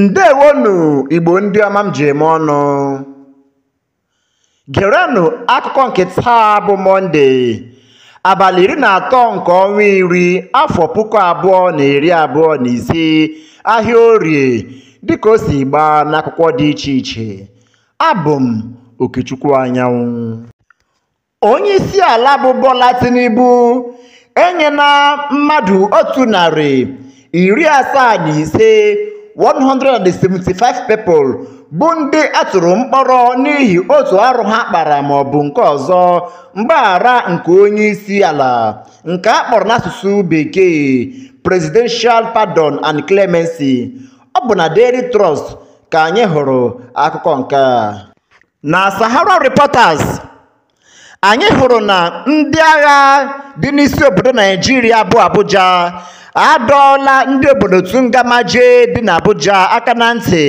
ndewonu igbo ndị ọma m ji eme ọnụ gerenụ akụkọ nke taa bụ mọnde abalị iri na atọ nke ọnwa iri afọ puku abụọ na iri abụọ na ise ahịa orie dịka o si gbaa n'akwụkwọ dị iche iche abụ m okechukwu anyanwụ onye isi ala bụ Bola Tinubu enyela mmadụ otu narị iri asaa na ise 175 people bụ ndị a tụrụ mkpọrọ n'ihi otu arụ ha kpara ma ọ bụ nke ọzọ mgbaghara nke onye isi ala nke a kpọrọ n'asụsụ bekee presidential pardon and clemency ọ bụ na Daily Trust ka anyị hụrụ akụkọ nke a na Sahara Reporters anyị hụrụ na ndị agha dị n'isi obodo Naijiria bụ Abuja adọọla ndị obodo Tungamaje dị n'Abuja aka na ntị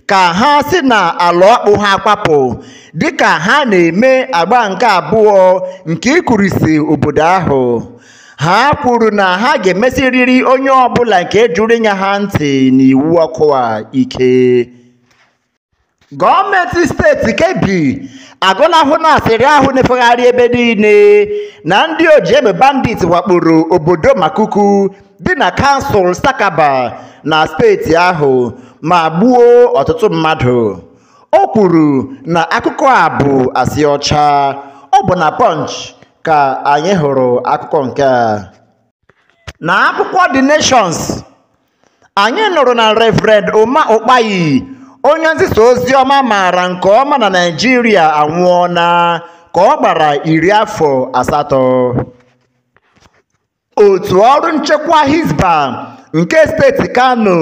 ka ha si na ala ọkpụ ha kwapụ dịka ha na-eme agba nke abụọ nke ịkụrisi obodo ahụ ha kwuru na ha ga-emesiriri onye ọbụla nke jụrụ ịnya ha ntị n'iwu ọkụ a ike gọọmenti steeti kebbi agọnahụla asịrị ahụ na-efegharị ebe niile na ndị ojiegbe bandit wakporo obodo makuku dị na kansụl sakaba na steeti ahụ ma gbuo ọtụtụ mmadụ o kwuru na akụkọ a bụ asị ọcha ọ bụ na punch ka anyị hụrụ akụkọ nke a na akwụkwọ the nations anyị nụrụ na Reverend Uma Ukpai onye nzisa ozi ọma a maara nke ọma na Naịjirịa anwụọla ka ọ gbara iri afọ asatọ otu ọrụ nchekwa Hisbah nke steeti Kano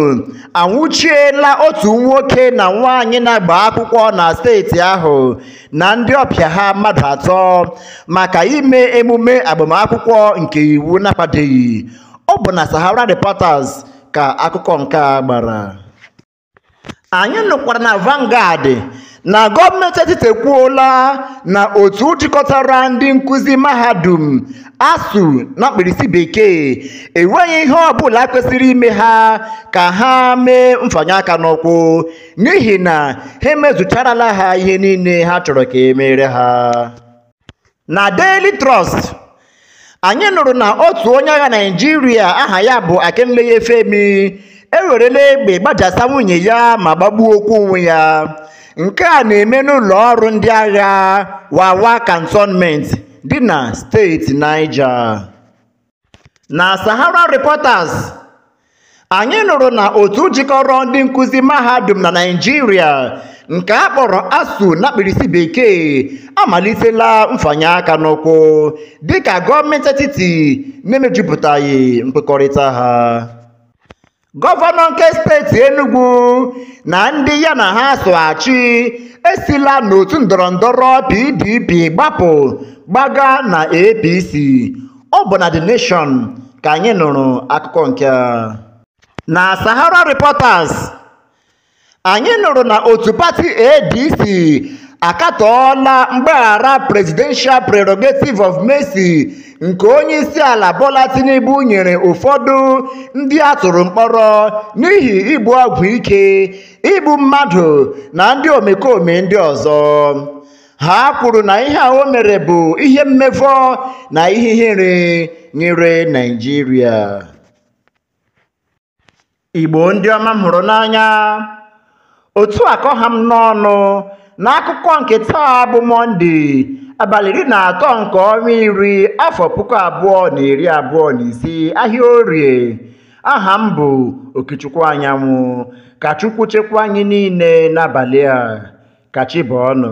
anwụchiela otu nwoke na nwaanyị na-agba akwụkwọ na steeti ahụ na ndị ọbịa ha mmadụ atọ maka ime emume agbamakwụkwọ nke iwu na-akwadoghị ọ bụ na Sahara Reporters ka akụkọ nke a gbara anyị nụkwara na Vanguard na gọọmenti etiti ekwuola na otu jikọtara ndị nkụzi mahadum ASUU na mkpirisi bekee enweghị ihe ọbụla kwesịrị ime ha ka ha mee mfanye aka n'ụkwụ n'ihi na ha emezucharala ha ihe niile ha chọrọ ka e meere ha na Daily Trust anyị nụrụ na otu onye agha Naịjirịa aha ya bụ Akinleye Femi ewerela egbe gbajasa nwunye ya ma gbagbuokwu onwe ya nke a na-eme n'ụlọ ọrụ ndị agha Wawa Cantonment dị na steeti Niger na Sahara Reporters anyị nụrụ na otu jikọrọ ndị nkụzi mahadum na Naịjirịa nke a kpọrọ ASUU na mkpirisi bekee amalitela mfanye aka n'ụkwụ dịka gọọmenti etiti na-emejupụtaghị nkwekọrịta ha gọvanọ nke steeti Enugu na ndị ya na ha so achị esila n'otu ndọrọ ndọrọ PDP gbapụ gbaga na APC ọ bụ na The Nation ka anyị nụrụ akụkọ nke a. na Sahara Reporters anyị nụrụ na otu pati adc akatọọla mgbaghara presidential prerogative of mercy nke onye isi ala bola tinubu nyere ụfọdụ ndị a tụrụ mkpọrọ n'ihi ibu ọgwụ ike igbu mmadụ na ndị omekome ndị ọzọ ha kwuru na ihe a o mere bụ ihe mmevọ na ihe ihere nyere naịjirịa Igbo ndị ọma m hụrụ n'anya otu a ka ọ ha m n'ọnụ n'akụkọ nke taa bụ mọnde abalị iri na atọ nke ọnwa iri afọ puku abụọ na iri abụọ na ise ahịa orie aha m bụ okechukwu anyanwụ ka chukwu chekwa anyị niile n'abalị a ka chi bọọ nụ